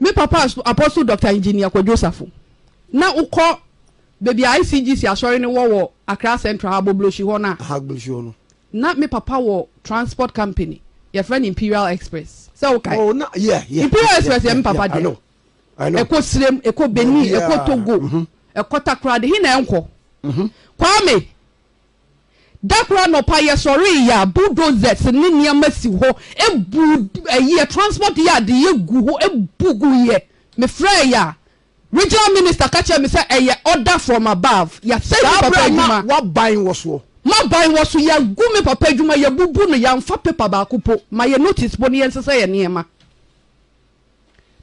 Me papa Apostle Doctor Engineer Kwadwo Safo, na wo kɔ baabi a ICGC asɔre no wɔ wɔ Accra Central ha Bobloshi hɔ no a, na me papa wɔ transport company yɛfrɛ no Imperial Express sɛ wo kae? Imperial Express yɛ me papa deɛ, ɛkɔ Sirem, ɛkɔ Benin, ɛkɔ Togo, ɛkɔ Takoradi, he na ɛnkɔ? Kwame, Da koro anɔpa yɛsɔree yɛ a bulldozers ne nneɛma si hɔ bu ɛyɛ transport yard yɛ gu hɔ bu gu yɛ me frɛɛ yɛ a regional minister ka kyerɛ me sɛ ɛyɛ order from above yɛasɛe me papa adwuma w'aban wɔ soɔ m'aban wɔ so yɛagu me papa adwuma yɛabubu no yɛamfa paper baako po ma yɛ notice po ne yɛnsesa yɛ nneɛma.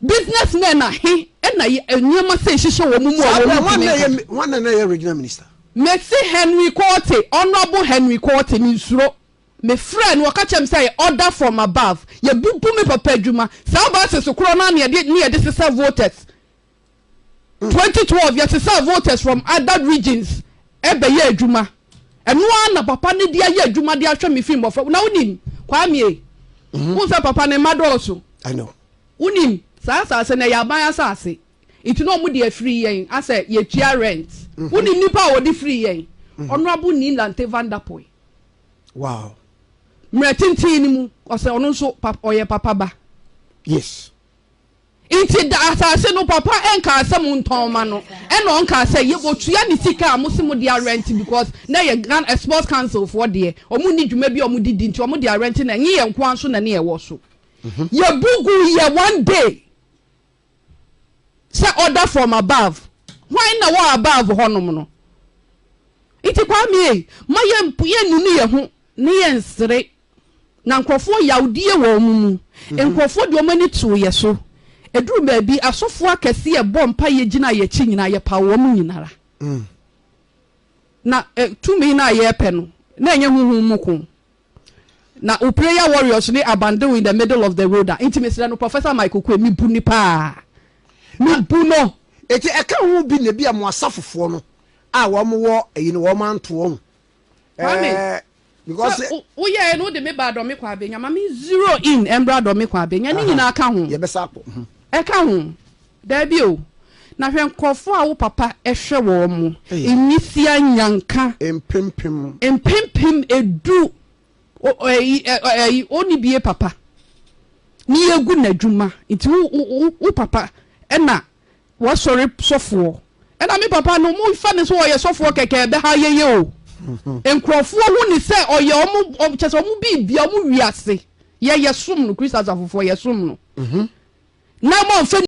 Business men a he na yɛ nneɛma sei hyehyɛ wɔn mu a Saa berɛ wɔntumi hwan na nka? ɛyɛ hwan na ɛyɛ regional minister? Mese Henry Quartey, Honourable Henry Quartey, mensuro. Me frɛɛ no, ɔka kyerɛɛ me sɛ yɛ order from above. Yɛbubu me papa adwuma. Saa buses korɔ no ara ne yɛde ne yɛde sesa voters. Twenty twelve yɛsesaa voters from other regions bɛyɛɛ adwuma ɛno ara na papa no de ayɛ adwuma de ahwɛ me firi mmɔfra na wonim kwamie mhm. wohu sɛ papa ne mma dɔɔso wonim saa asase no ɛyɛ aban asase nti na wɔde afiri yɛn asɛ yɛtua rent mhm. wonim nipa a wɔde firi yɛn mhm. honorable nilante vanderpoy wow mmerɛ tenten no mu ɔsɛ ɔno nso ɔyɛ papa ba yes Nti da asase no papa nkaa sɛ mo ntɔn mma no ɛna ɔnkaa sɛ yɛ wɔ tua ne sika a mo se mo de arɛnte because na ɛyɛ Ghana sports council foɔ deɛ ɔmo nni dwuma bi a ɔmo de di nti ɔmo de arɛnte na ɛnye yɛn nkoa nso na ne ɛwɔ so yɛ bu gu yɛ one day sɛ order from above hwan na wɔ above hɔ nom no nti Kwame ei ma yɛ yɛ nunu yɛ ho ne yɛ nsere. Na nkurɔfoɔ yawdie wɔ wɔn mu. Nkurɔfoɔ de wɔn ani too yɛ so. Ɛduruu baabi, asɔfoɔ akɛseɛ bɔɔ mpaeɛ gyinaa yɛn akyi nyinaa, yɛpaw wɔn nyina ara. Na ɛ, tumi no a yɛrepɛ no, na ɛnyɛ honhom mu ko. Na wo prayer warriors ne abandon in the middle of the road a, enti mesrɛ no, Professor Mike Oquaye, mebu no paa. Mebu no! Enti ɛka ho bi na ebia mo asafofoɔ no a wɔn wɔ ayi no, wɔn anto wɔn Kwame, sɛ woyɛɛ no wode me baa dɔme kɔ abɛnya ma me zero in ɛmbra dɔme kɔ abɛnya ne nyinaa ka ho mhm. ɛka ho daabi o na hwɛ nkurɔfoɔ a wo papa ɛhwɛ wɔ mo nwisia nyanka mpempem edu ɔni bie papa ne yɛgu n'adwuma nti wo papa ɛna W'asɔre sɔfoɔ ɛna me papa no mo fa no sɛ ɔyɛ sɔfoɔ kɛkɛ ɛbɛha yɛyɛ o nkurɔfoɔ hu ne sɛ ɔyɛ ɔmo kyɛ sɛ ɔmo biribia ɔmo wiase yɛ yɛsom no Christ asafofoɔ yɛsom no na mo anfa